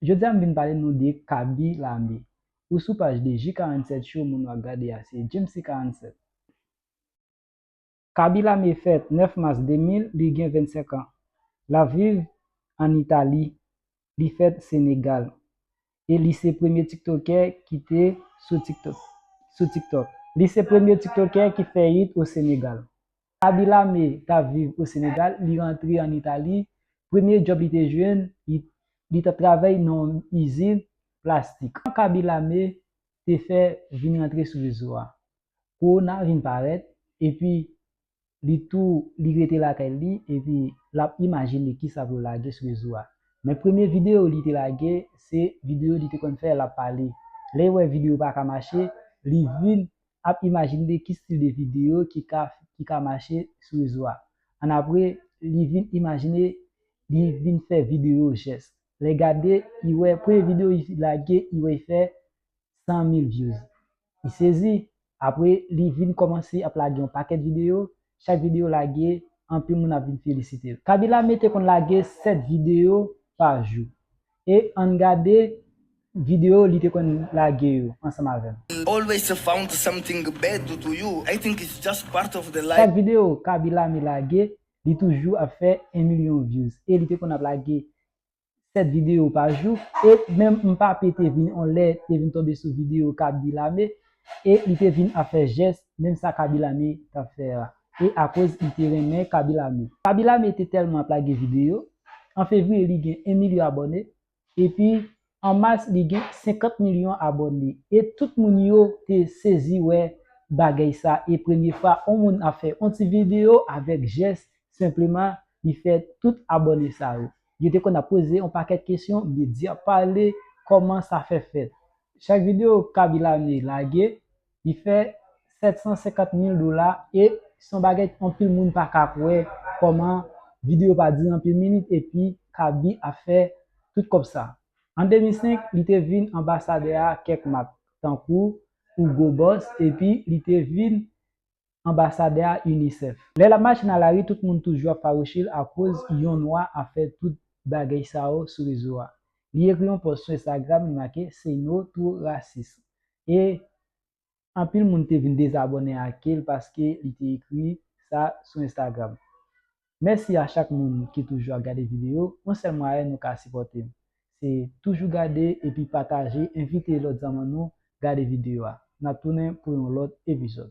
Jodi a m vin pale nou de Kaby Lame. Ou sou paj de J 47 show moun wap gade a se Djemsy 47. Kaby Lame fèt 9 mas 2000, li gen 25 an. Lap viv an Itali, li fèt Senegal. E li se premye tiktokè ki te sou tiktok. Li se premye tiktokè ki fè it o Senegal. Aby Lame t ap viv o Senegal, li rantre an Itali, premye djòb li te jwenn, li t ap travay nan yon izin plastik. Tan k Aby Lame te fè vin rantre sou rezo a, kowona vin parèt, epi li tou li rete lakay li epi l ap imajine kisa pou l lage sou rezo a. Men premye videyo li te lage se videyo li te konn fè l ap pale. Lè l wè videyo pa ka mache, li vin ap imajinde ki stil de videyo ki ka ki ka mache sou rezo a. Annapre, li vin imajine li vin fè videyo jès. Lè gade, li wè premye videyo li fin lage, li wè li fè 100 mil vyouz. Li sezi. Apre, li vin kòmanse ap lage yon pakèt videyo. Chak videyo lage, anpil moun ap vin felisite l. Kabila mete konn lage 7 videyo pa jou. e ann gade video li te konn lage yo ansanm avèm. Always to found something bad do to you I think it's just part of the life. Chak video Kaby Lame lage li toujou ap fè 1 milyon views e li te konn ap lage 7 video pa jou e menm Mpape te vin on lè te vin tonbe sou video Kaby Lame e li te vin ap fè jès menm sa Kaby Lame tap fè a. e akoz li te renmen Kaby Lame. Kaby Lame te tèlman ap lage videyo, an fevriye li gen 1 milyon abòne, epi an mas li gen 50 milyon abòne e tout moun yo te sezi wè bagay sa e premye fwa on moun ap fè on ti videyo avèk jès senpleman li fè tout abòne sa yo. Yo te konn ap poze on pakèt kesyon, medya pale, kòman sa fè fèt. Chak videyo Kaby Lame lage, li fè 750 mil dola e son bagay anpil moun pa ka kwè kòman video pa dire anpil minit epi Kaby ap fè tout kòb sa. An 2005 li te vin anbasadè a kèk mak tankou Hugo Boss epi li te vin anbasadè a UNICEF. Lè lap mache nan lari tout moun toujou ap fawouche l akoz yon nwa ap fè tout bagey sa yo sou rezo a. Li ekri yon pòs sou Instagram li make Say no to racism e anpil moun te vin dezabòne ake l paske li te ekri sa sou Instagram. Mèsi a chak moun ki toujou ap gade video, yon sèl mwayen nou ka sipòte m se toujou gade epi pataje envite lòt zanmann nou gade video a. Nap tounen pou yon lòt epizòd.